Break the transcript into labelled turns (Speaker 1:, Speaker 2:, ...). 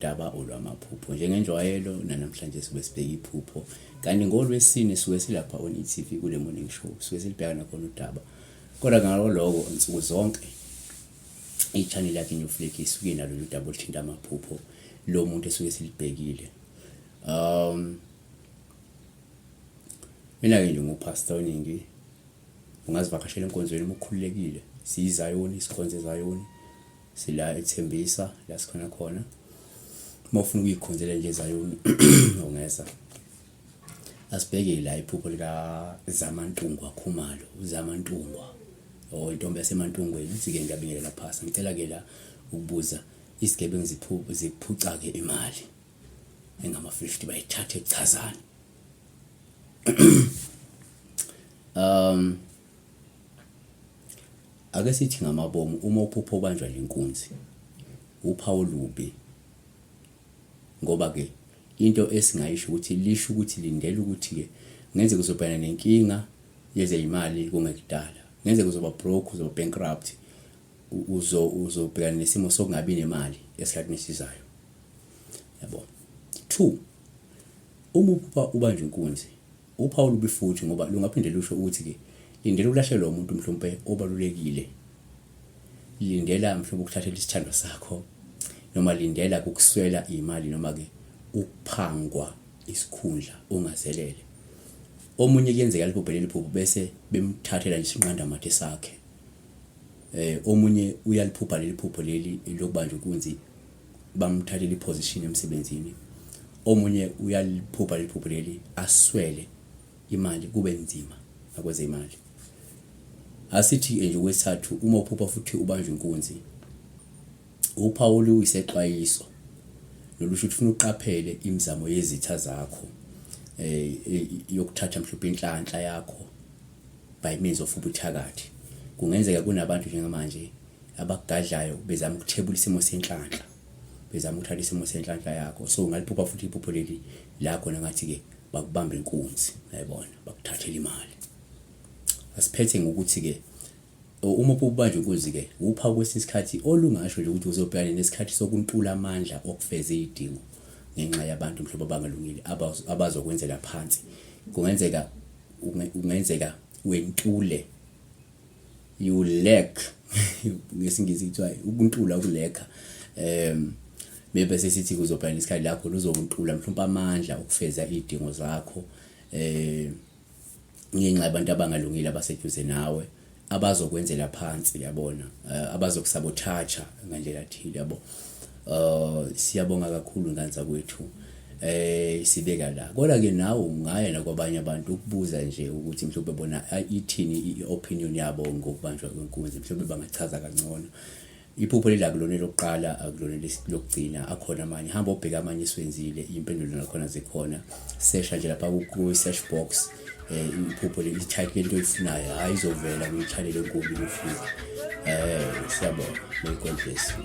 Speaker 1: daba olwamaphupho njengenjwayelo nanamhlanje sibe sibheka iphupho kanti ngolwesine suke silapha on e-tv kule morning show suke silibheka nakhona udaba kodwa ngalo lokho nsuku zonke i-channel yakhe new flag isuke nalo daba oluthinta amaphupho lo muntu esuke silibhekile um Mina-ke nje nguPastor Ningi, ungazivakashela enkonzweni uma ukhululekile. SiyiZayoni, sikhonza eZayoni, sila ethembisa la sikhona khona. Uma ufuna ukuyikhonzela nje eZayoni ungeza. Asibheke la iphupho lika Zamantungwa Khumalo, uZamantungwa or oh, intombi yaseMantungweni uthi-ke ngiyabingelela phasa ngicela-ke la ukubuza isigebengu ziphuca-ke imali engama-50 bayithathe chazana um ake sithi ngamabomu uma uphupho obanjwa lenkunzi uphawu lubi ngoba ke into esingayisho ukuthi lisho ukuthi lindela ukuthi ke ngenze kuzobhekana nenkinga yezeyimali kungekudala ngenze kuzoba broke uzoba bankrupt uzobhekana nesimo sokungabi nemali esikhathini esizayo yabo two uma uphupha ubanje inkunzi uphawu olubi futhi ngoba lungaphinde lusho ukuthi-ke lindela ukulahlekelwa umuntu mhlawumpe obalulekile lindela mhlawumbe ukuthathela isithandwa sakho noma lindela kukuswela imali noma-ke ukuphangwa isikhundla ungazelele omunye kuyenzeka liphuphele liphupho bese bemthathela nje isinqandamathe sakhe eh omunye uyaliphupha leli phupho leli lokubanja inkunzi bamthathela iposition emsebenzini omunye uyaliphupha leli phupho leli aswele imali kube nzima nakwezemali asithi nje kwesithathu uma uphupha futhi ubanjwe inkunzi uPawulu uyisexwayiso nolusho ukuthi ufuna uqaphele imizamo yezitha zakho eh, eh yokuthatha mhlawumbe inhlanhla yakho by means of ubuthakathi. Kungenzeka kunabantu njengamanje abagadlayo bezama ukuthebula isimo senhlanhla bezama ukuthatha isimo senhlanhla yakho so ungaliphupha futhi iphupho leli la khona ngathi ke bakubamba inkunzi yayibona bakuthathela imali asiphethe ngokuthi ke uma ubanje inkunzi ke upha kwesinye isikhathi olungasho nje ukuthi uzobhekana nesikhathi sokuntula amandla okufeza izidingo ngenxa yabantu mhlawumbe abangalungile abazokwenzela phansi kungenzeka ungenzeka wentule you lack ngesingisi kuthiwa ukuntula ukulekha um maybe sesithi kuzobhana isikhathi lakho luzokuntula mhlawumbe amandla okufeza idingo zakho eh ngenxa abantu abangalungile abaseduze nawe abazokwenzela phansi yabona uh, abazokusabotaja ngandlela thile yabo uh, siyabonga kakhulu nganza kwethu eh sibeka la kodwa ke nawe ungaya nakwabanye abantu ukubuza nje ukuthi mhlawumbe bona ithini i-opinion yabo ngokubanjwa kwenkunzi mhlawumbe bangachaza kangcono Iphupho leli akulona elokuqala akulona lokugcina akhona amanye hamba obheke amanye esiwenzile impendulo nakhona zikhona sesha nje lapha ku-search box um iphupho leli type lento oyifunayo hhayi izovela kwi-channel enkulu kufika um eh, siyabona may god bless you